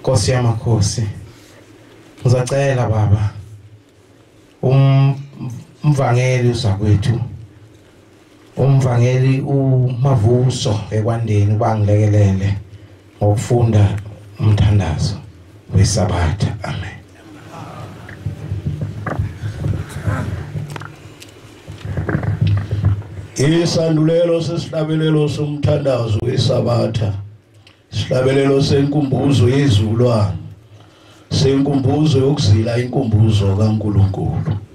Nkosi yamakhosi ngizacela baba umvangeli uzakwethu umvangeli umavuso ekwandeni ubangilekelele ngokufunda umthandazo wesabatha amen isandulelo sesihlabelelo somthandazo wesabatha sihlabelelo senkumbuzo yezulwane senkumbuzo yokuzila inkumbuzo kaNkuluNkulu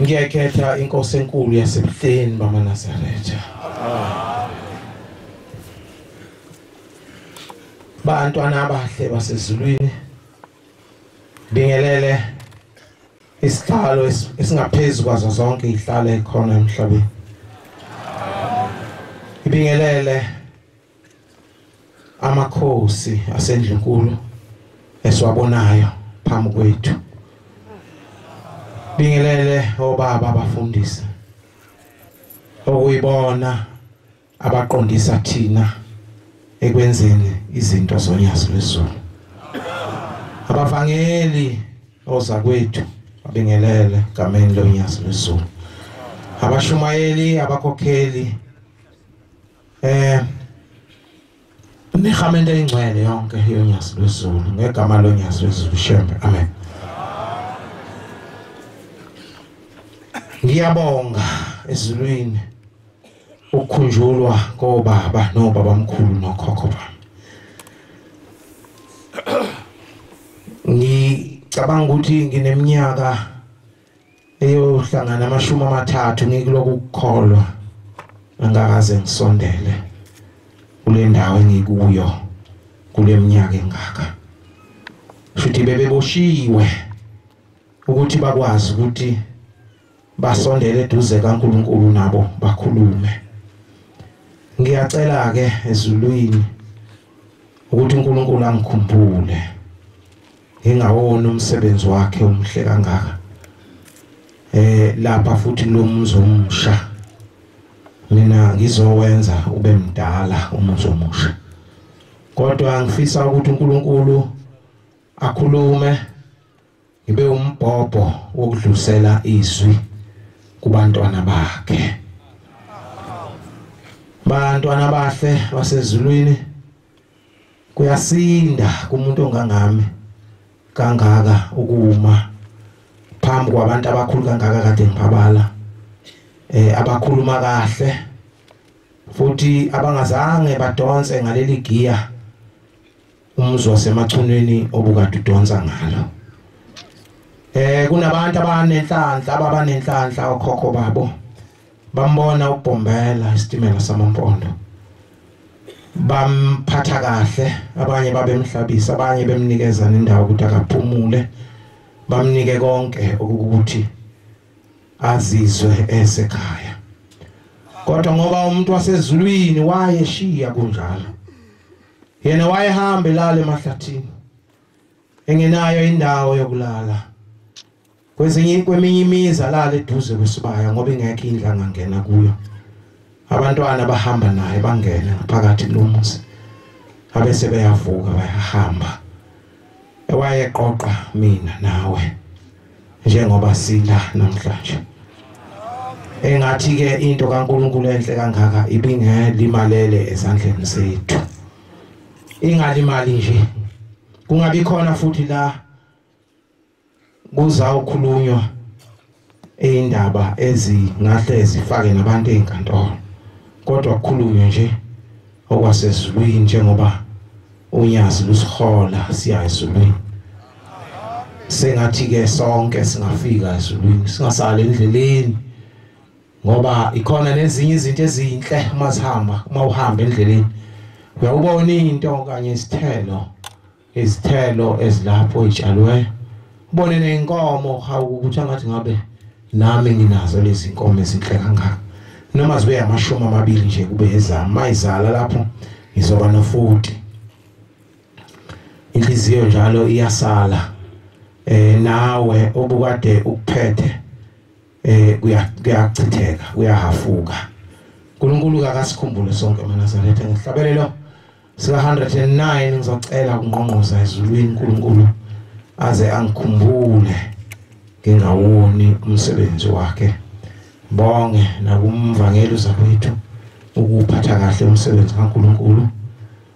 ngiyakhetha inkosi enkulu yasebuhleni bamanazaretha bantwana abahle basezulwini bingelele isihlalo esingaphezulu kwazo zonke ihlale khona emhlabeni ibingelele amakhosi asendlunkulu esiwabonayo phambi kwethu bingelele obaba abafundisi okuyibona abaqondisa thina ekwenzeni izinto zonyazi lwezulu abavangeli oza kwethu abingelele gameni lonyazi lwezulu abashumayeli abakhokheli eh imihamento eyingcwele yonke yonyazi lwezulu ngegama lonyazi lwezulu shembe amen ngiyabonga ezulwini ukukhunjulwa kobaba nobaba mkhulu nokhokho bami ngicabanga ukuthi ngineminyaka eyohlangana amashumi amathathu ngikuloko ukukholwa angakaze ngisondele kule ndawo engikuyo kule minyaka engaka futhi bebeboshiwe ukuthi bakwazi ukuthi basondele eduze kaNkuluNkulu nabo bakhulume ngiyacela ke ezulwini ukuthi uNkulunkulu angikhumbule engawona umsebenzi wakhe omhle kangaka eh lapha futhi lo muzi omusha mina ngizowenza ube mdala umuzi omusha kodwa ngifisa ukuthi uNkulunkulu akhulume ngibe umbhobho wokudlusela izwi kubantwana bakhe bantwana bahle basezulwini kuyasinda kumuntu ongangami kangaka ukuma phambi kwabantu abakhulu kangaka kade ngibabala eh abakhuluma kahle futhi abangazange badonse ngaleli giya umuzwa semachunwini obukade udonsa ngalo eh kunabantu abanenhlanhla ababanenhlanhla okhokho babo bambona ubhombela isitimela samampondo bamphatha kahle abanye babemhlabisa abanye bemnikeza nendawo ukuthi akaphumule bamnike konke ukuthi azizwe esekhaya kodwa ngoba umuntu wasezulwini wayeshiya kunjalo yena wayehamba elala emahlathini engenayo indawo yokulala kwezinye kweminye imizi alale eduze kwesibaya ngoba ingekho indlu angangena kuyo abantwana bahamba naye bangene ngaphakathi kulomuzi abese beyavuka bayahamba ewayeqoqa mina nawe njengoba sila namhlanje engathi ke into kaNkuluNkulu enhle kangaka ibingelimalele ezandleni zethu ingalimali nje kungabi khona futhi la kuzawukhulunywa indaba ezingahle zifake nabantu ezinkantolo kodwa kukhulunywe nje okwasezulwini njengoba unyazi lusihola siya ezulwini sengathi ke sonke singafika ezulwini singasali endleleni ngoba ikhona nezinye izinto ezinhle uma sihamba uma uhamba endleleni uyawubona into kanye isithelo izithelo ezilapho itshalwe ubone nenkomo hawu ukuthi angathi ngabe nami nginazo lezi nkomo ezinhle kangaka noma zibe amashumi amabili nje kube ezami mayizala lapho ngizoba nofuti inhliziyo njalo iyasala eh nawe obukade ukuphethe eh kuya kuyachitheka kuyahafuka uNkulunkulu akasikhumbule sonke eMaNazaretha ngihlabelelo sika 109 ngizocela ukungqongqoza ezulwini uNkulunkulu aze angikhumbule ngingawoni umsebenzi wakhe bonge nakumvangeli uzakwethu ukuphatha kahle umsebenzi kaNkuluNkulu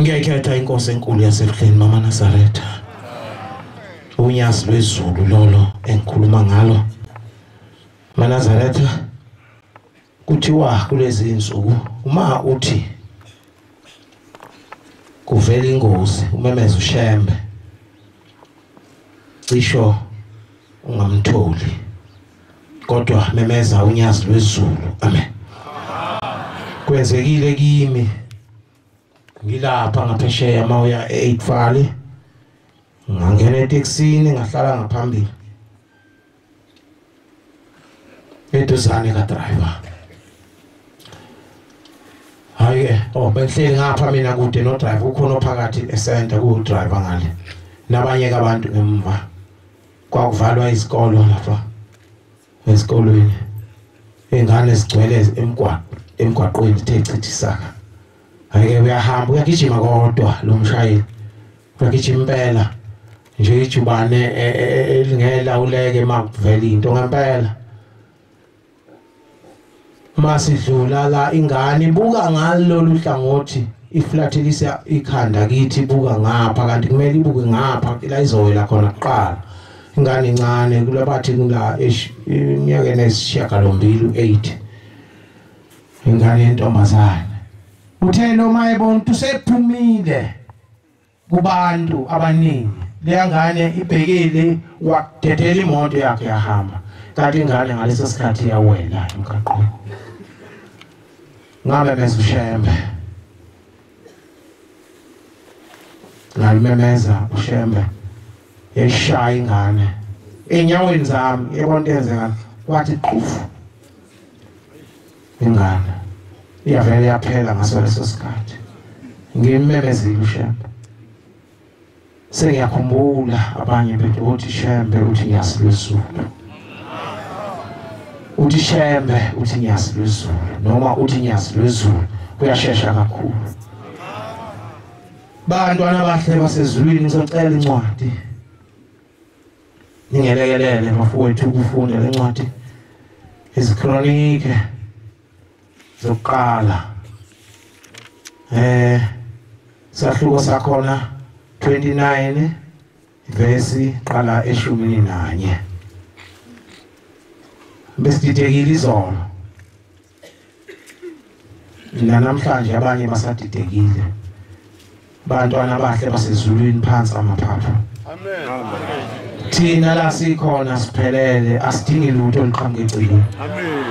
ngiyayikhetha inkosi enkulu yasebuhleni mama nasaretha unyasi lwezulu lolo engikhuluma ngalo manazaretha kuthiwa kulezi insuku uma uthi kuvela ingozi umemeza ushembe cisho ungamtholi kodwa memeza unyazi lwezulu amen kwenzekile kimi ngilapha ngaphesheya uma uya e-eight valley ngangena etekisini ngahlala ngaphambili eduzane kadriver hayi-ke o oh, bengihleli ngapha mina kude nodriver ukhona ophakathi esenta kuwudriver ngale nabanye-ke abantu ngemva kwakuvalwa izikolo lapha esikolweni ingane zigcwele emgwaqo emgwaqweni ithe chithisaka ayike uyahamba uyagijima kodwa lo mshayeli uyagijima impela nje ijubane e, e, e, elingela uleke makuvela into ngempela masidlula la ingane buka ngalolu hlangothi iflathekisa ikhanda kithi buka ngapha kanti kumele ibuke ngapha la izowela khona kuqala ingane incane kulabathi kula eminyakeni esishiyagalombili u-8 ingane yentombazane uthe noma ebona ukuthi usephumile kubantu abaningi leya ngane ibhekile wadedela imoto yakhe yahamba kanti ingane ngaleso sikhathi yawela emgaqweni ngamemeza ushembe ngalimemeza ushembe yayishaya ingane enyaweni zami yabona into yenzeka kwathi qufu ingane iyavele yaphela ngaso leso sikhathi ngimemezile ushembe sengiyakhumbula abanye bethu othi shembe uthi ngiyasilwezulu uthi shembe uthi ngiyasilwezulu noma uthi ngiyasilwezulu kuyashesha kakhulu bantwana bahle basezulwini ngizocela incwadi ningelekelele mafowethu ukufunda le ncwadi izikronike zokuqala eh sahluko sakhona 29 verse qala eshumini nanye besididekile izolo nanamhlanje abanye basadidekile bantwana abahle basezulwini phansi amaphapha amen thina la sikhona siphelele asidingi lutho liqhamuke egcini amen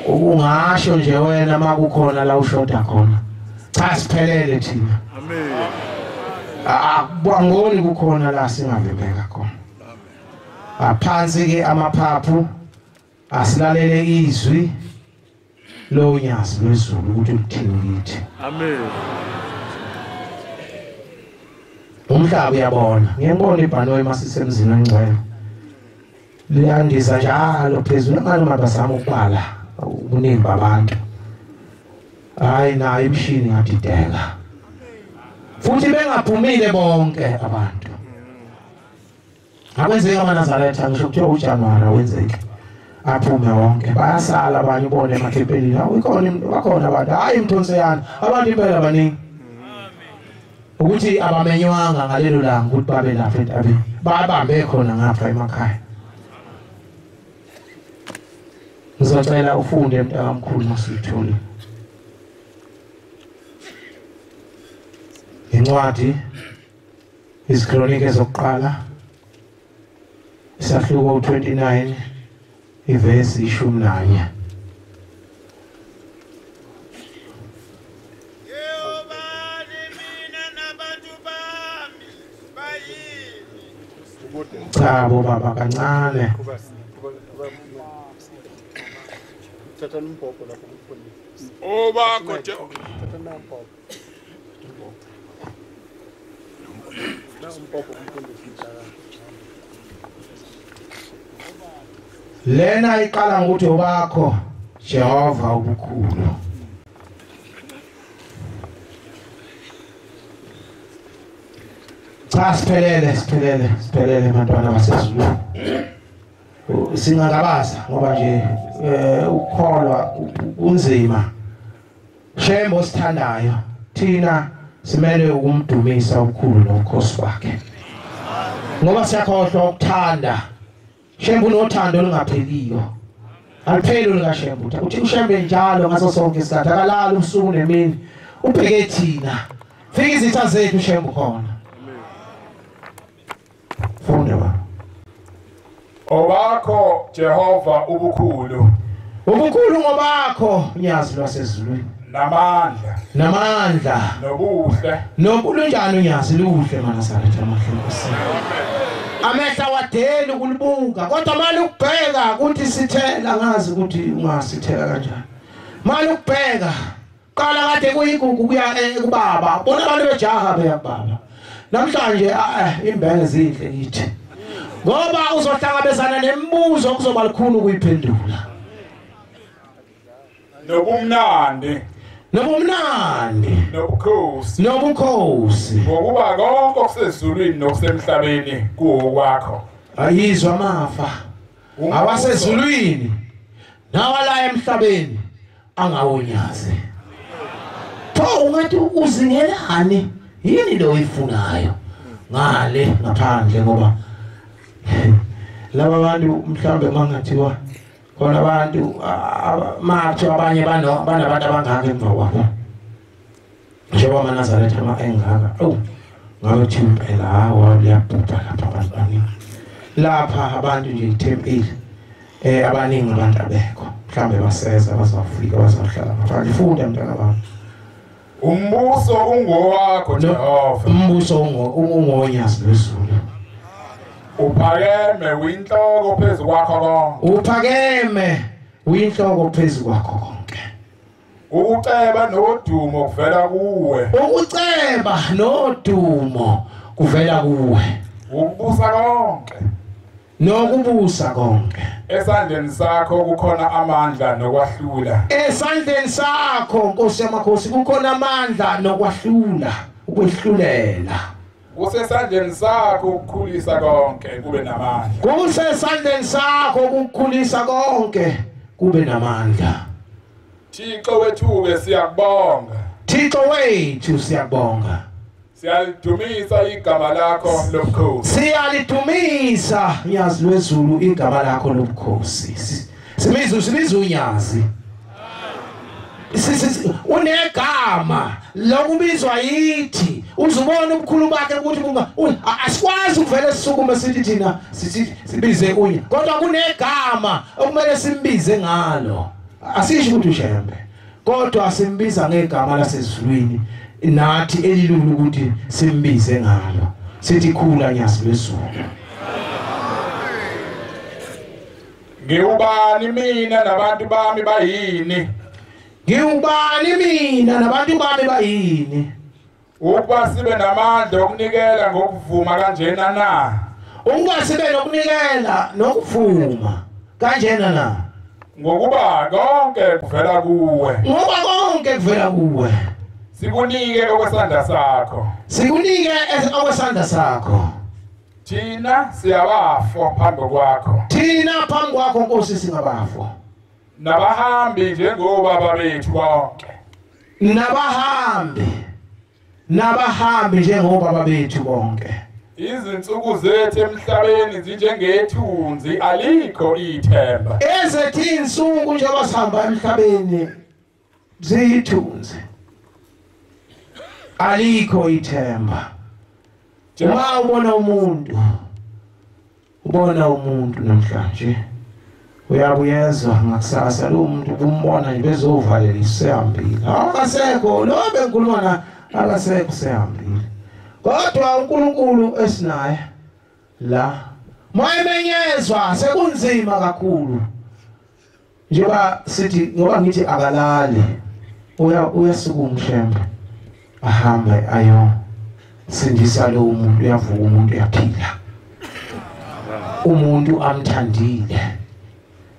ukungasho nje wena makukhona la ushoda khona cha siphelele thina amen akubangoni kukhona la singavembeka khona aphansi ke amaphaphu asilalele izwi lonyazi lwezulu ukuthi lithini kithi amen umhlaba uyabona ngiyabona ibhanoyi masisemzini ongcwele liyandisa njalo phezulu abantu mabazama ukubala ubuningi babantu hayi nayo imishini ngadideka futhi bengaphumile bonke abantu akwenzeki amanazaretha ngisho kuthiwa ujanuwari awenzeki aphume wonke bayasala abanye ubone emakhempelini ikhona bakhona abantu hhayi mthonseyana abantu impela baningi ukuthi abamenywanga ngalelo langa ukuthi babe lapha entabeni babambe khona ngapha emakhaya ngizocela ufunde mntakamkhulu masiyithole incwadi Izikronike zokuqala isahluko 29 ivesi ishumi nanye cha bo baba kancane obakho lena iqala ngokuthi obakho Jehova ubukhulu cha siphelele siphelele siphelele bantwana basezulu singangabaza ngoba nje eh ukukholwa kunzima Shembe osithandayo thina simele ukumdumisa ukhulu nokhosi wakhe ngoba siyakhohlwa ukuthanda shembe unothando olungapheliyo alipheli olukashembe uthi ushembe njalo ngaso sonke isikhathi akalali ubusuku nemini ubheke thina fika izitha zethu shembe khona funda ba obakho Jehova ubukhulu ubukhulu ngobakho nyazi lwasezulwini namandla namandla nobuhle nokulunjani unyazi luhle manasaretha amahlonkosi amehla wadeli ukulibuka kodwa mali ukubheka ukuthi sithela ngazi ukuthi ungasithela kanjani mali ukubheka Qala kade kuyigugu kuya eh, kubaba. Bona abantu bejaha beyababa. Namhlanje ah, eh, imbenge zinhle ngithi. Ngoba uzohlangabezana nemibuzo kuzoba likhulu ukuyiphendula. Nobumnandi. Nobumnandi. Nobukhosi. Nobukhosi. Ngokuba konke okusezulwini nokusemhlabeni kuwokwakho. Ayizwa amafa. Awasezulwini. Nawala emhlabeni. angawunyaze pho ungathi uzingelani yini le oyifunayo ngale ngaphandle ngoba laba bantu mhlawumbe mangathiwa khona abantu mathi abanye banabantu abangaka emva kwabo njengoba amanazaretha ama engaka awu ngabe thi impela hawa liyabhubha lapha abantu baningi lapha abantu nje ithempeli eh abaningi abantu abekho mhlambe baseza bazafika bazahlala ngaphandle funda mntana bami umbuso ungowakho Jehova umbuso ungonyazi lwezulu uphakeme winhloko phezu kwakho konke uphakeme winhloko phezu kwakho konke Ukuceba nodumo kuvela kuwe. Ukuceba nodumo kuvela kuwe. Ukubusa konke. Nokubusa konke. Esandleni sakho kukhona amandla nokwahlula. Esandleni sakho Nkosi yamakhosi kukhona amandla nokwahlula, ukwehlulela. Kusesandleni sakho ukukhulisa konke kube namandla. Kusesandleni sakho ukukhulisa konke kube namandla. Thixo wethu ke siyakubonga. Thixo wethu siyakubonga. Siyalidumisa igama lakho lobukhosi. Siyalidumisa nyazi lwezulu igama lakho lobukhosi. Simizu simizu nyazi. unegama lokubizwa yithi uzubona ubukhulu bakhe ukuthi asikwazi ukuvele sisukume sithi thina sibize kunye kodwa kunegama okumele simbize ngalo asisho ukuthi ushembe kodwa simbiza ngegama lasezulwini nathi elilula ukuthi simbize ngalo sithi khula nyazi lwezulu Ngiwubani mina nabantu bami bayini? Ngiwubani mina nabantu bami bayini? Ukuba sibe namandla okunikela ngokuvuma kanjena na? Ukuba sibe nokunikela nokuvuma kanjena na? Ngokuba konke kuvela kuwe. Ngoba konke kuvela kuwe. Sikunike okwesandla sakho. Sikunike okwesandla sakho. thina siyabafwa phambi kwakho thina phambi kwakho nkosi singabafwa nabahambi njengobaba bethu bonke nabahambi nabahambi njengobaba bethu bonke izinsuku zethu emhlabeni zinjengethunzi alikho ithemba ezethi insuku njengoba sihamba emhlabeni ziyithunzi alikho ithemba uma ubona umuntu ubona umuntu namhlanje uyabuyezwa ngakusasa lo muntu kumbona nje bezovalela isihambile akasekho lo bengikhuluma na akasekho sehambile kodwa uNkulunkulu esinaye la mayemenyezwa sekunzima kakhulu njengoba sithi ngoba ngithi akalali uya uyasuka umshembe ahambe ayo sindisa lo muntu uyavuka umuntu uyaphila umuntu amthandile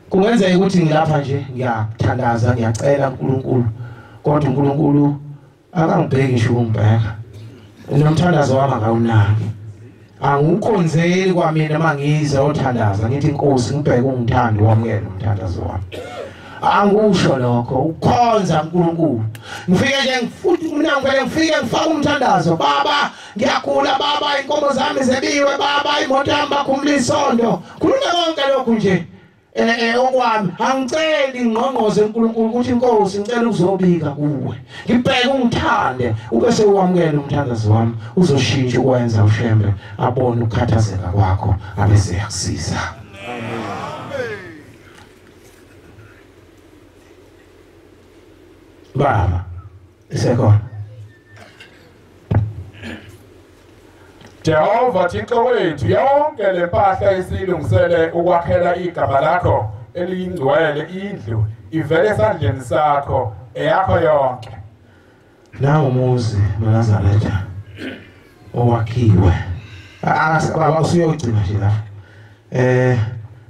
kungenzeka ukuthi ngilapha nje ngiyathandaza ngiyacela uNkulunkulu kodwa uNkulunkulu akangibheki nje ukungibheka nomthandazo wami akawunaki angiwukhonzeli kwamina uma ngize othandaza ngithi inkosi ngibheke ungithandi wamukele umthandazo wami angikusho lokho ukukhonza uNkulunkulu ngifike nje ngifuthi mina ngivele ngifike ngifaka umthandazo baba ngiyagula baba inkomo zami zebiwe baba imoto yami bakhumula isondo khuluma konke lokhu nje Eh, eh okwami angiceli ingqongqoze uNkulunkulu ukuthi inkosi ngicela ukuzobika kuwe ngibheke ungithande ube sewamukela umthandazo wami uzoshintsha ukwenza ushembe abone ukukhathazeka kwakho abe seyakusiza baba isekhona Jehova Thixo wethu yonke lempahla esilungisele ukwakhela igama lakho eliyingcwele indlu ivele esandleni sakho eyakho yonke Nawo muzi Nazaretha owakhiwe akasibaba usuyogcina nje la eh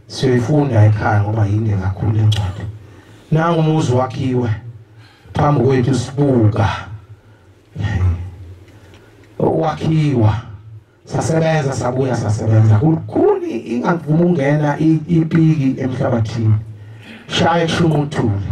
siyoyifunda ekhaya ngoba yinde kakhulu incwadi nangu umuzi wakhiwe phambi kwethu sibuka wakhiwa sasebenza sabuya sasebenza kukhuni ingavuma ungena ipiki emhlabathini shaye shumuthule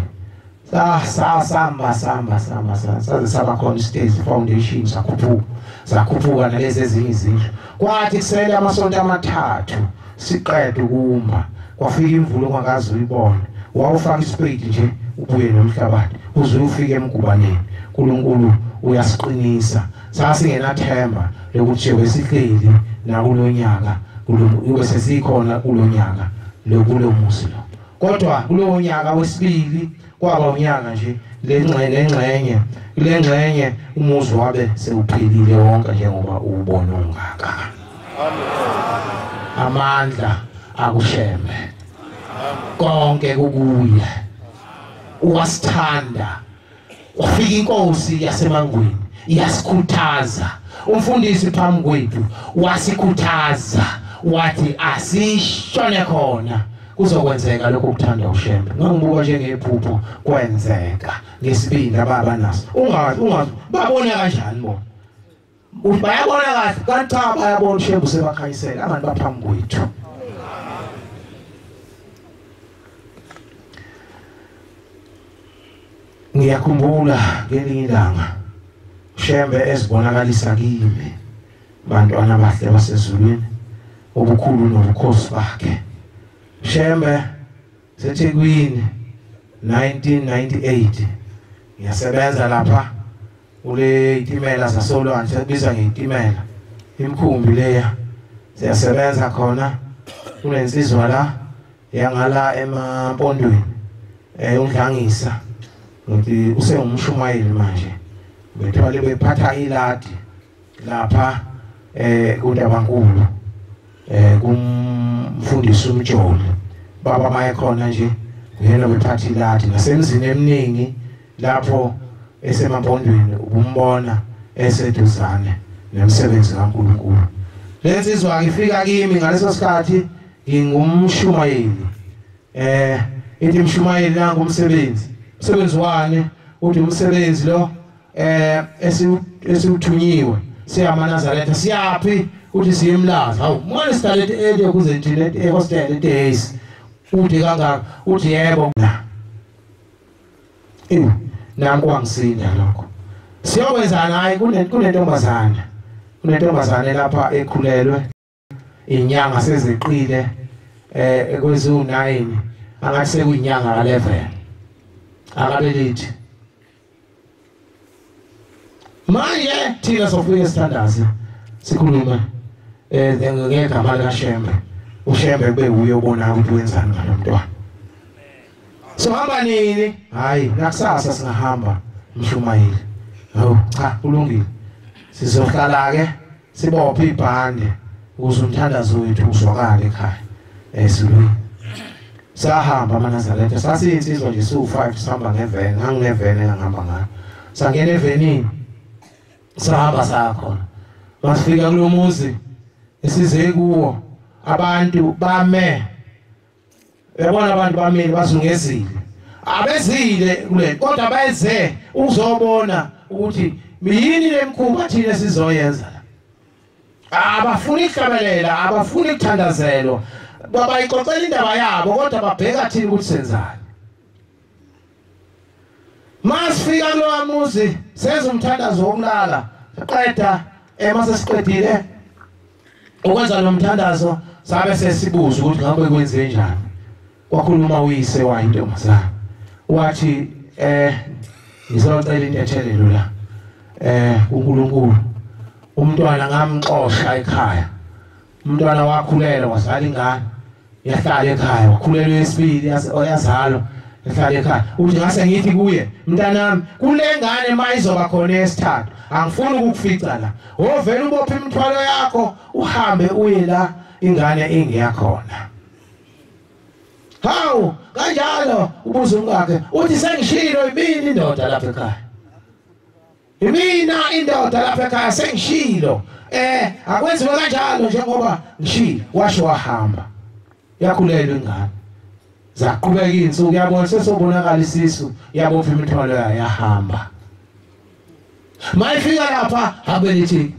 sa sa samba samba samba sa- saze saba khona isitezi foundation sakhuphuka sakhuphuka nalezi ezinye izindlu kwathi kusele amasonto amathathu siqede ukumba kwafika imvula ongakaze uyibone wawufaka isipeyidi nje ubuye nomhlabathi uze ufike emgubaneni uNkulunkulu uyasiqinisa sasingenathemba lokuthi nje wesihleli nakulonyaka uyobe sesikhona kulonyaka lokulomuzi lo kodwa kulowo nyaka wesibili kwaba unyaka nje lengxenye kule ngxenye umuzi wabe sewuphelile wonke njengoba uwubona ungaka amandla akushembe konke kukuye uwasithanda Kwafika inkosi yasemangweni yasikhuthaza. Umfundisi phambi kwethu wasikhuthaza wathi asishone khona kuzokwenzeka lokho kuthanda ushembe ngangibuka njengephupho kwenzeka ngesibindi ababa naso ungazi ungazi babona kanjani bona Uthi bayabona kahle kanti cha bayabona uShembu sebakhayisela abantu baphambi kwethu. Ngiyakhumbula ngelinye ilanga Shembe esibonakalisa kimi bantwana bahle basezulwini ubukhulu nobukhosi bakhe. Shembe seThekwini 1998 ngiyasebenza lapha kule itimela zasolwandle sekubiza ngey'timela imikhumbi leya siyasebenza khona kunensizwa la yangala emampondweni eh undlangisa ngithi usengumshumayeli manje bethwale bephatha iladi lapha eh kuNdabankulu eh kumfundisi uMjoli baba maye khona nje uyena wephathi lathi nasemzini eminingi lapho esemabondweni ukumbona eseduzane nemsebenzi kaNkulunkulu lensizwa ifika kimi ngaleso sikhathi ngingumshumayeli eh ithi mshumayeli nangu umsebenzi umsebenzi wani uthi umsebenzi lo eh esiwuthunyiwe siyamanazaretha siyaphi uthi siyemlaza hawu manje sidalete early kuze thina ehostel eh, days uthi kangaka uthi yebo na ewu nami kwangisinda lokho siyokwenzani hayi kunentombazana kunentombazane lapha ekhulelwe inyanga seziqile eh kwezu 9 angathi sekuyinyanga ka 11 akabelithi manje thina sofike sithandaze sikhulume eh ngegama lika Shembe uShembe kube uye ubona ukuthi wenzani ngalomntwana so hamba nini hayi nakusasa singahamba mshumayeli hawu cha kulungile sizohlala ke sibophe ibhande ukuze umthandazo wethu uzwakale ekhaya esilwini sahamba amanazaretha sasiyinsizwa nje siwu-five sihamba ngevene ngangingevene engangihamba ngayo sangena evenini sahamba saya khona masifika kulo muzi esize kuwo abantu bame yabona abantu bamile bazungezile abezile kule kodwa beze ukuzobona ukuthi yini lemkhuba thina sizoyenza abafuni ihlabelela abafuni ukuthandazelwa babayixoxela indaba yabo kodwa babheka thina ukuthi senzani Masifika kulowa muzi senza umthandazo wokulala siqeda ema eh, sesiqedile ukwenza lo mthandazo sabe sesibuza ukuthi ngabe kwenze njani wakhuluma uyise wayo intombazana wathi eh ngizocela intethelelo la eh uNkulunkulu umntwana ngamxosha ekhaya umntwana wakhulelwa wazala ingane yahlala ekhaya wakhulelwa esibili yazalwa ehlale ekhaya uthi ngase ngithi kuye mntanami kule ngane mayizoba khona esithathu angifuni ukukufica la wovela ubophe imithwalo yakho uhambe uye la ingane ingeyakhona hawu kanjalo ubuza umkakhe uthi sengishilo yimini indoda lapha ekhaya Imina indoda lapha ekhaya sengishilo eh akwenziwe kanjalo njengoba ngishilo washo wahamba yakhulelwa ingane zaqhubeka izinsuku yabona sesobonakala isisu yabopha imithwalo yayo yahamba mayifika lapha habelithi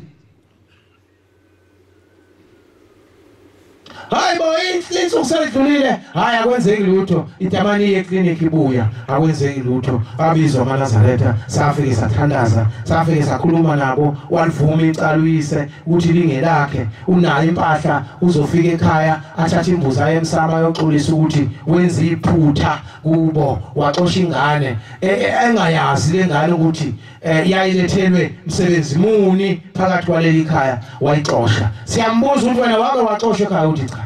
hayi bo inhlinso kusedlulile hayi akwenzeki lutho itamani iye clinic ibuya akwenzeki lutho babizwa amanazaretha safike sathandaza safike sakhuluma nabo walivuma icala uyise ukuthi lingelakhe unayo impahla uzofika ekhaya athathe imbuzi aye emsama ayoxolisa ukuthi wenza iphutha kubo waxosha ingane e, e, engayazi le ngane ukuthi eh yayilethelwe msebenzi muni phakathi kwaleli khaya wayixosha siyambuza ukuthi wena wake waxoshwa ekhaya uthi cha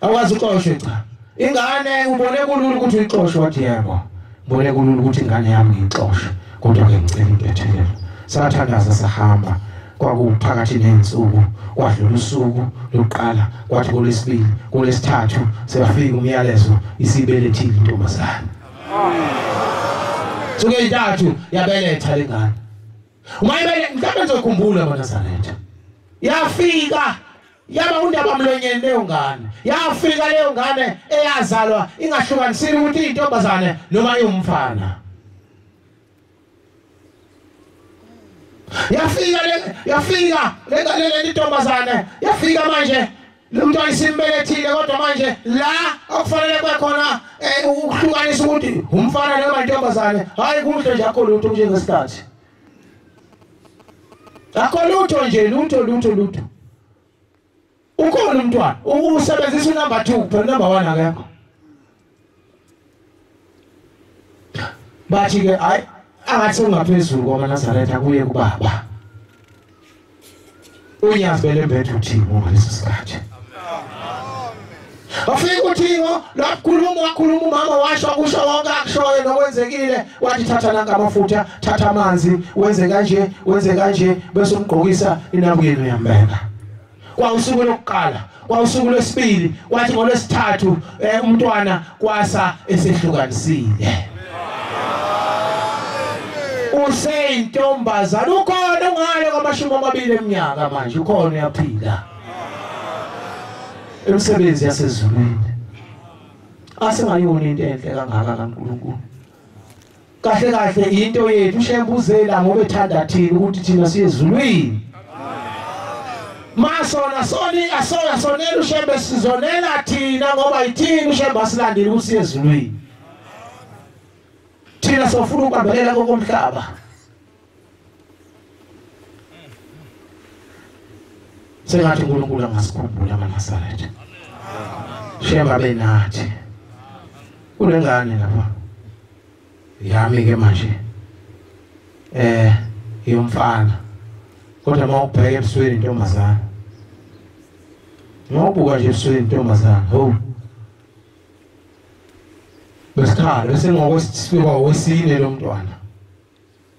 awazi uxoshwe cha ingane ubone kulula ukuthi uyixoshwe wathi yebo ubone kulula ukuthi ingane yami ngixoshwe kodwa ke ngicela intethelelo sathandaza sahamba kwakuphakathi nensuku kwadlula usuku lokuqala kwathi kolesibili kolesithathu seyafika umyalezo isibelethile intombazane suke intathu yabeletha lengane umayibele mhlawumbe ngizokhumbula bonazaretha yafika yaba undaba mlonyeni leyo ngane yafika leyo ngane eyazalwa ingahlukanisile ukuthi intombazane noma iwumfana yafika le yafika le ngane le ntombazane yafika manje lo mntwana isimbelethile kodwa manje la okufanele kwekhona eh, ukuhlukanisa ukuthi umfana noma intombazane hayi kuhle nje akho lutho njengesikhathi akho lutho nje lutho lutho lutho ukhona umntwana usebenzisa unumber 2 phela number 1 akekho bathi ke ay angathi ungaphezulu kwamaNazaretha kuye kubaba unyazibele mbethu uthini ngaleso sikhathi Wafika uThingo lwakhuluma wakhuluma umama washo kusho konke akushoyo nokwenzekile wathi thatha nanka amafutha thatha amanzi wenze kanje wenze kanje bese umgqokisa inabukeni uyambeka kwawusuku lokuqala kwawusuku lwesibili kwathi ngolwesithathu eh, umntwana kwasa esehlukanisile useyintombazana ukhona ungale kwamashumi amabili eminyaka manje ukhona uyaphila Imisebenzi yasezulwini asingayona into enhle kangaka kaNkulunkulu. Kahle kahle into yethu shembuzela ngoba ethanda thina ukuthi thina siyezulwini. Masona soni asona sonela ushembe sizonela thina ngoba ithini ushembe asilandile ukuthi siyezulwini. Thina sofuna ukubambelela kokomhlaba. sengathi uNkulunkulu angasikhumbula amaNazaretha shemba benathi kunengane lapha yami ke manje eh yomfana kodwa uma ubheka ebusweni intombazana ngobuka nje ebusweni intombazana ho besikhala bese ngokwesifika wesine lo mntwana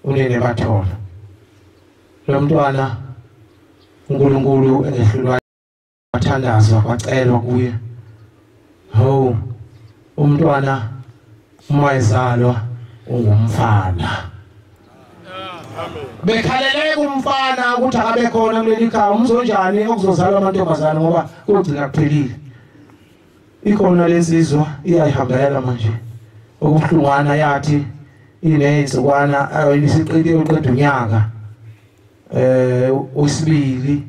unene bathola lo mntwana uNkulunkulu engehlulwa wathandazwa kwacelwa kuye ho umntwana uma ezalwa ungumfana bekhaleleke umfana ukuthi akabe khona kuleli khaya umzonjani okuzozalwa amantombazane ngoba kugcina kuphelile ikhona lensizwa iyayihambela manje okubuhlungwana yathi inezinsukwana ayisiqede uqeda unyaka eh usibili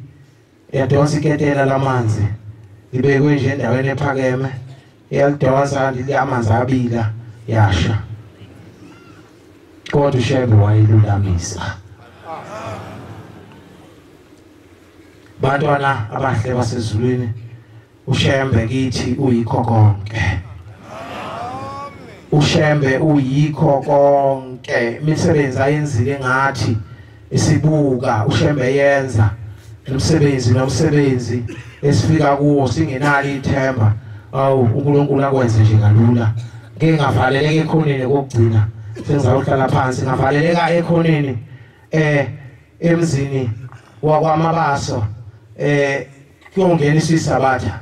yadonsa iketela lamanzi ibekwe nje endaweni ephakeme yalidonsa lithi amanzi abila yasha kodwa ushebe wayilulamisa bantwana abahle basezulwini ushembe kithi uyikho konke ushembe uyikho konke imisebenzi ayenzile ngathi isibuka ushembe yenza umsebenzi nomsebenzi esifika kuwo singenalo ithemba awu uNkulunkulu akwenze nje kalula ngeke ngavaleleka ekhoneni kokugcina sengizawuhlala phansi ngavaleleka ekhoneni eh emzini wakwamabaso eh Kuyongena isisabatha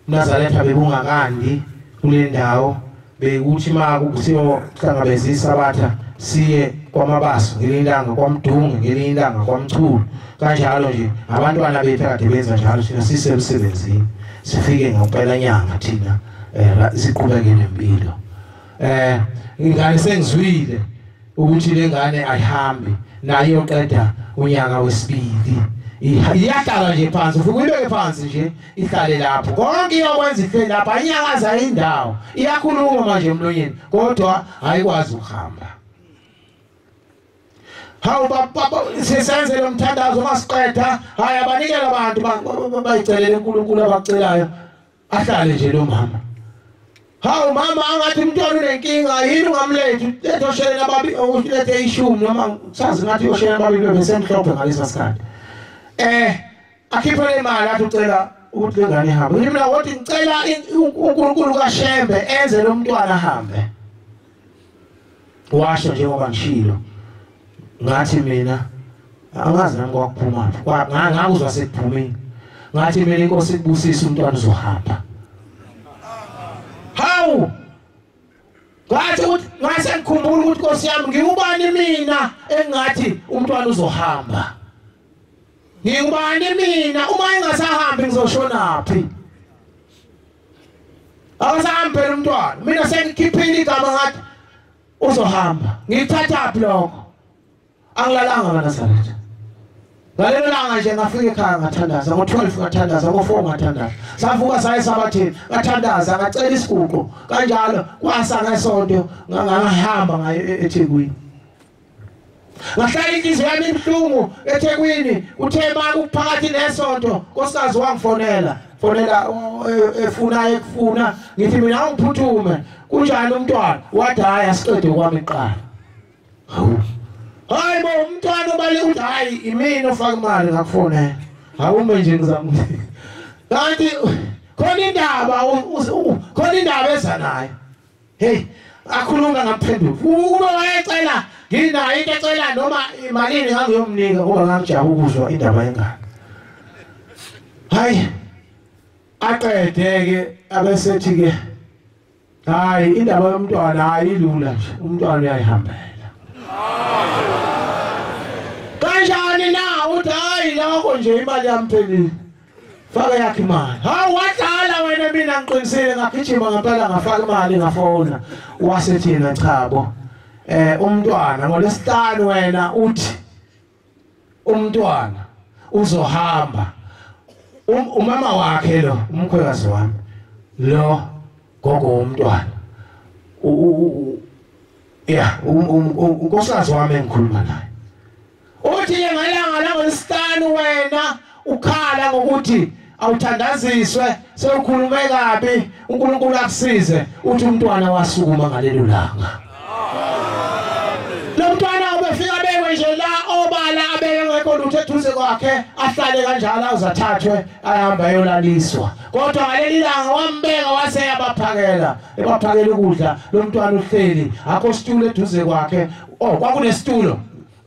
uNazaretha bebungakandi kule ndawo bekuthi ma kusiyohlangabeza isabatha siye kwamabaso ngelinye ilanga kwamdunge ngelinye ilanga kwamchulu kanjalo nje abantwana bethu akade benza njalo thina sisemsebenzini sifike ngempela nyanga thina um siqhubeke nempilo um ingane sengizwile ukuthi lengane ayihambi nayo iyoqeda unyaka wesibili iyahlala nje phansi ufike uyibeke phansi nje ihlale lapho konke iyokwenza ihleli lapho ayinyakaza indawo iyakhuluma manje emlonyeni kodwa ayikwazi ukuhamba hawu sisenze lo mthandazo masiqeda hhayi abanikela abantu bayicelele unkulunkulu abacelayo ahlale nje lo mama hawu mama angathi umntwana unenkinga yini ungamlethi lethe osheleni ababi ulethe ishumi noma sazi ngathi osheleni ababili bebesemhlophe ngalesa sikhathi eh akhiphe le mali athi ucela ukuthi le ngane ihambe mina wothi ngicela unkulunkulu kashembe enze lo mntwana ahambe washo njengoba ngishilo ngathi mina angazi nami kwakuphuma ngakuzwa sekuphumile ngathi mina inkosi ikubusise umntwana uzohamba hawu ngathi ukuthi ngase ngikhumbula ukuthi inkosi yami ngiwubani mina engathi umntwana uzohamba ngiwubani mina uma engasahambi ngizoshonaphi akasahambi phela umntwana mina sengikhiphile igama ngathi uzohamba ngithathaphi lokho angilalanga nganasaretha ngalelo langa nje ngafika ekhaya ngathandaza ngo-12 ngathandaza ngo-4 ngathandaza savuka saye esabathini ngathandaza ngacela isiguqo kanjalo kwasa ngesonto ngangahamba ngayo e-, ethekwini ngahlala inhliziyo yami ibuhlungu ethekwini uthe ma kuphakathi nesonto nkosikazi wangifonela fonela eh, efuna ekufuna ngithi mina ungiphuthume kunjani umntwana wathi hhayi asiqede kwami kuqala hawu hayi bo umntwana obale uthi hhayi imini ofaka imali ngakufonela hawume nje ngizama kanti khona indaba khona indaba eza nayo Hey, akhuluma ngaphenduka. Uma wayecela nginayo into ecela noma imalini ngangiyomnika ngoba ngangijaba ukuzwa indaba yengane. Hayi. Aqede ke abesethi ke hayi indaba yomntwana hayi lula nje umntwana uyayihambela. Kanjani na uthi hayi lokho nje imali yamphelile. faka yakhe imali hawu wadlala wena mina ngiqinisile ngagijima ngempela ngafaka imali ngafona wase thina chabo eh umntwana ngolesihlanu wena uthi umntwana uzohamba um, umama wakhe lo umkhwekazi wami lo gogo womntwana yeah unkosikazi wami engikhuluma naye Uthi-ke ngelanga langolwesihlanu wena ukhala ngokuthi awuthandaziswe sewukhulume kabi uNkulunkulu akusize uthi umntwana wasukuma ngalelo langa lo mntwana ubefika bekwe nje la obala abeke ngekho lutho eduze kwakhe ahlale kanjalo awuzathathwe ahambe ayolaliswa kodwa ngaleli langa wambeka wase yabaphakela ebaphakela ukudla lo mntwana uhleli akho situlo eduze kwakhe oh kwakunesitulo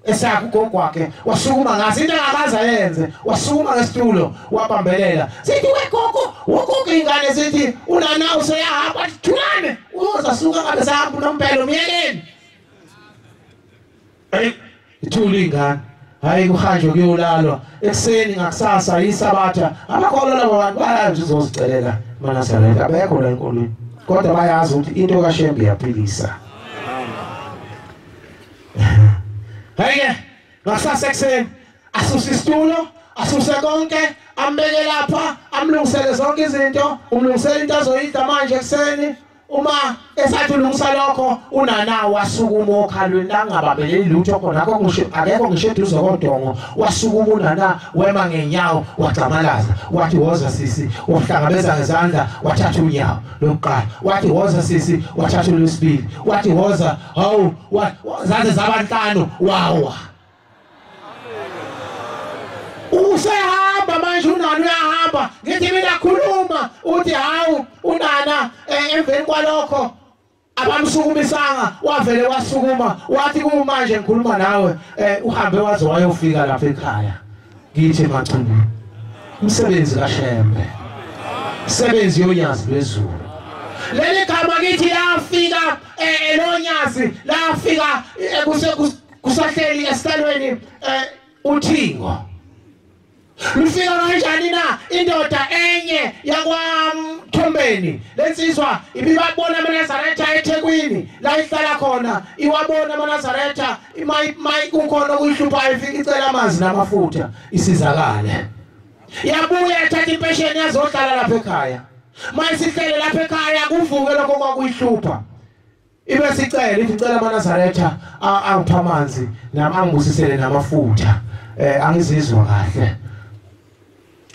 esakhe ugogo wakhe wasukuma ngaso into engakaze ayenze wasukuma ngesitulo wabambelela sithi wegogo wogogo ingane sithi unana useyahamba thulane uzasuka ngabe sahamba unompelo myekeni eyi ithula iy'ngane hhayi kuhanjwe kuyolalwa ekuseni ngakusasa yisabatha abakholwa labo bantu bayazi ukuthi uzozicelela emanazaretha abekho la enkolweni kodwa bayazi ukuthi into kashembe iyaphilisa Heye, ngasase kuseni asuse isitulo, asuse konke, ambeke lapha, amlungisele zonke izinto, umlungisele into azoyidla manje kuseni. Uma esathi ulungisa lokho unana wasukuma okhalweni langababeleli lutho khona akho ngisho akekho ngisho eduze kodongo wasukuma unana wema ngenyawo wagxamalaza wathi woza sisi wahlangabeza ngezandla wathatha unyawo lokuqala wathi woza sisi wathatha olwesibili wathi woza hawu zaze zabanhlanu wawa usehamba manje unana uyahamba ngithi mina khuluma uthi hawu unana eh, emveni kwalokho abamsukumisanga wavele wasukuma wathi kumanje ngikhuluma nawe eh, uhambe waze wayofika lapha ekhaya ngithi emathuneni umsebenzi kaShembe sebenzi yonyazi lwezulu leli gama kithi lafika elonyazi eh, lafika eh, kusahleli esihlalweni eh, uthingo lufika kanjani na indoda enye yakwamthombeni lensizwa ibibabona amanazaretha ethekwini la ihlala khona iwabona amanazaretha imayi mayi kukhona okuyihluphayo ifika icela amanzi namafutha isizakale yabuya ethatha impesheni yazohlala lapha ekhaya mayisihlele lapha ekhaya kuvuke lokho kwakuyihlupha ibe sicela ithi cela amanazaretha angipha amanzi nami angibusisele namafutha um angizizwa kahle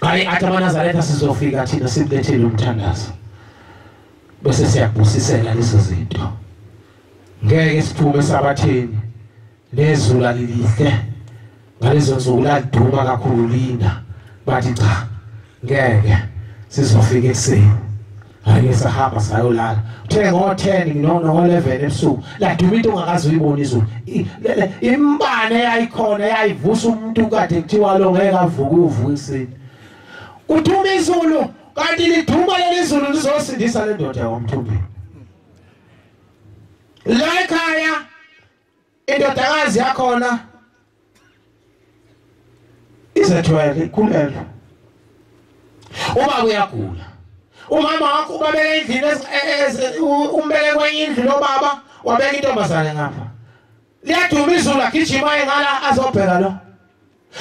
Hayi athi amaNazaretha sizofika thina simlethele umthandazo. Bese siyabusisela lezo zinto. Ngeke siphume sabathini nezulu lilihle ngalezo nsuku laduma kakhulu lina bathi cha ngeke sizofika ekuseni Hayi sahamba sayolala. Uthe ngo 10 no no 11 ebusuku. La duma into ongakazi uyibona izulu. Imbane yayikhona yayivusa umuntu kade kuthiwa lo ngeke avuke uvuke isini. Uthuma izulu kanti liduma leli zulu lizosindisa le ndoda yomthumbini. La ekhaya indodakazi yakhona izethwele ikhulelwe ubaba uyagula umama wakho ubabeka endlini e-, umbeke kwenye indlu lobaba wabeka intombazane ngapha liyaduma izulu agijima engala azobheka lo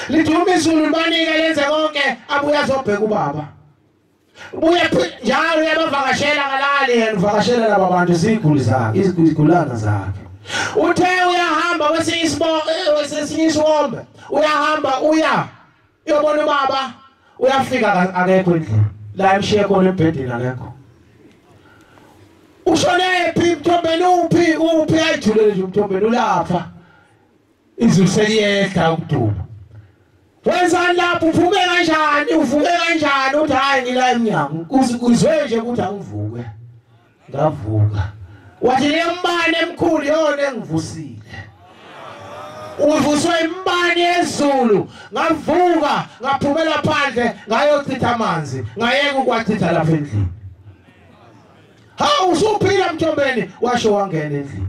liduma izulu libanike lenze konke abuye azobheka ubaba buya njalo uyabavakashela kalali yena uvakashela laba bantu iziguli zakhe izigulana zakhe uthe uyahamba kwesinye isibongo eh, kwesinye isiwombe uyahamba uya uyobona ubaba uyafika akekho endlini la emshiye khona embhedeni akekho ushonephi mthombeni uphi uphi ayijulele nje mthombeni ulapha izulu seliyehla ukuduba wenzani lapho uvuke kanjani uvuke kanjani uthi hhayi ngila emnyango kuzwe nje ukuthi angivuke ngavuka wathi lembane emkhulu yona engivusile uvuswe imbani yezulu ngavuka ngaphumela phandle ngayochitha amanzi ngayeka ukwachitha lapha endlini hawu usuphila mthombeni washo wangena endlini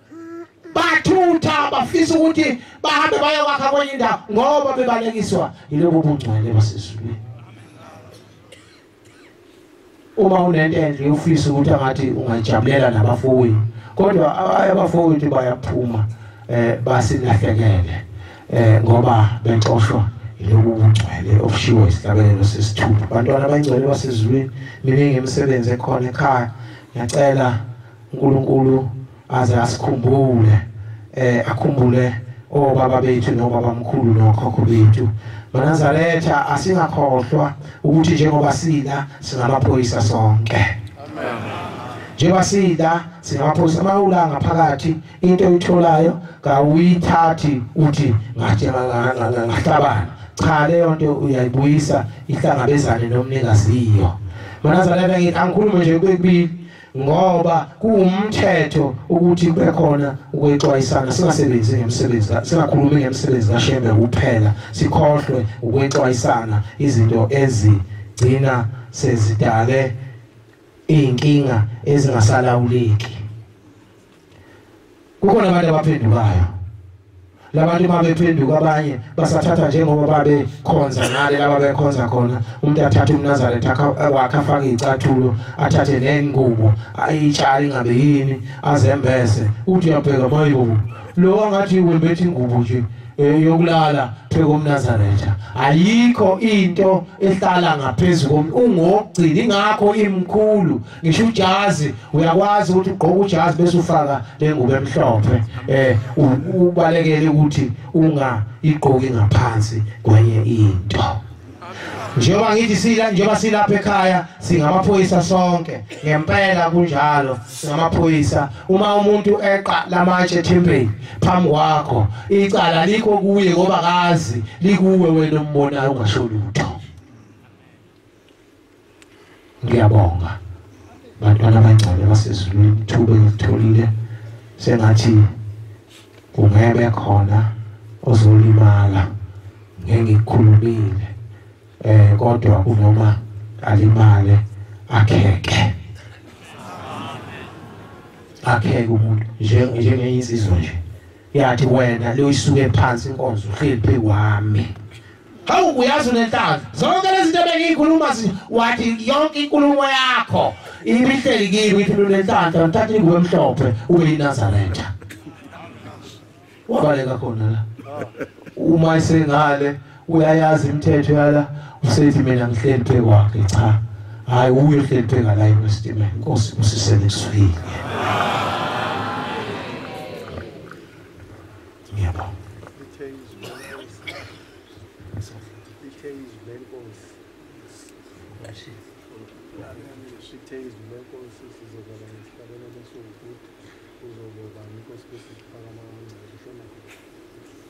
bathutha bafisa ukuthi bahambe bayokwakha kwenye indawo ngoba bebalekiswa yilobo bungcwele basezulwini uma unento enhle ufisa ukuthi angathi ungayijabulela nabafowethu kodwa abafowethu bayaphuma eh basingahlekele eh ngoba benxoshwa lobu bungcwele obushiwo isihlabelelo sesithupha abantwana abangcwele basezulwini miningi imisebenzi ekhona ekhaya ngiyacela uNkulunkulu aze asikhumbule eh akhumbule obaba bethu nobabamkhulu nokhokho bethu banazaretha asingakhohlwa ukuthi njengoba sila singamaphoyisa sonke amen njengoba sila singamaphoyisa mawula ngaphakathi into oyitholayo kawuyithathi uthi ngathi ngahlabana cha leyo nto uyayibuyisa ihlangabezane nomnikaziyo banazaretha ngithi angikhulume nje kwekubili ngoba kuwumthetho ukuthi kube khona ukwexwayisana singasebenzi ngemisebenzi singakhulumi ngemisebenzi kaShembe kuphela sikhohlwe ukwexwayisana izinto ezigcina sezidale izinkinga ezingasalawuleki kukhona abantu abaphendukayo labantu uma bephenduka abanye basathatha njengoba babekhonza ngale laba bekhonza khona umuntu athathe umnazaretha eh, wakhe afake iy'cathulo athathe nengubo ayitshale ingabe yini azembese uthi uyabheka mayibo lo angathi wembethe ingubo nje eh, yokulala phezu komnazaretha ayikho into ehlala ngaphezu komuntu ungokugcina ingakho imkhulu ngisho ujazi uyakwazi ukuthi ugqoke ujazi bese ufaka lengubo emhlophe eh ubalekele ukuthi unga igqoki ngaphansi kwenye into njengoba ngithi sila njengoba silapha ekhaya singamaphoyisa sonke ngempela kunjalo singamaphoyisa uma umuntu eqa lamatshe ethempeli phambi kwakho icala likho kuye ngoba kazi likuwe wena umbonayo ungasho lutho ngiyabonga bantwana abancane basezulwini ithuba elitholile sengathi kungebe khona ozolimala ngengikhulumile eh kodwa kunoma alimale akheke akheke umuntu njengeyizizwe nje yathi wena leyisuke phansi inkonzo uhleli phezu kwami hawu uyazi unenhlamba zonke lezi zinto bengiyikhuluma wathi yonke inkulumo yakho ibihleli kimi ithi unenhlamba ngithatha ingubo emhlophe ube yinazaretha wabaleka khona la uma isengale uyayazi imithetho yala usethi mina ngihleli phe kwakhe cha hayi uye uhleli phe ngala iwestima inkosi usisele kusuyile yebo Thank you.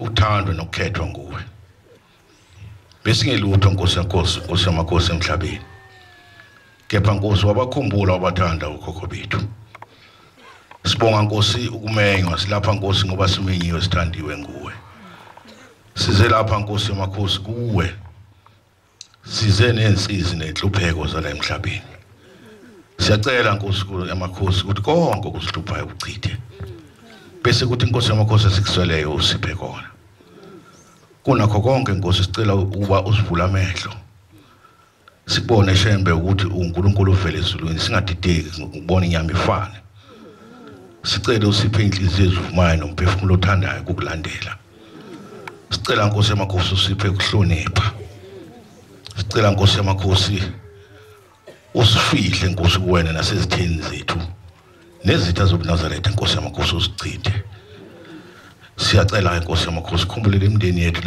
uthando nokukhethwa nguwe besingelutho nkosi yenkosi nkosi yamakhosi emhlabeni kepha nkosi wabakhumbula wabathanda ukhokho bethu sibonga nkosi ukumenywa silapha nkosi ngoba simenyiwe sithandiwe nguwe size lapha nkosi yamakhosi kuwe size nensizi nenhlupheko zala emhlabeni siyacela nkosukulu yamakhosi ukuthi konke okusihluphayo kuchithe bese kuthi inkosi yamakhosi esikusweleyo usiphe kona kunakho konke nkosi sicela ukuba usivule amehlo sibone shembe ukuthi uNkulunkulu uvele ezulwini singadideki ukubona inyama ifane sicele usiphe inhliziyo ezivumayo nomphefumulo othandayo ukukulandela sicela nkosi yamakhosi usiphe kuhlonipha sicela nkosi yamakhosi usifihle nkosi kuwena nasezitheni zethu nezitha zobunazaretha nkosi yamakhosi usichithe siyacela nkosi yamakhosi khumbulele imindeni yethu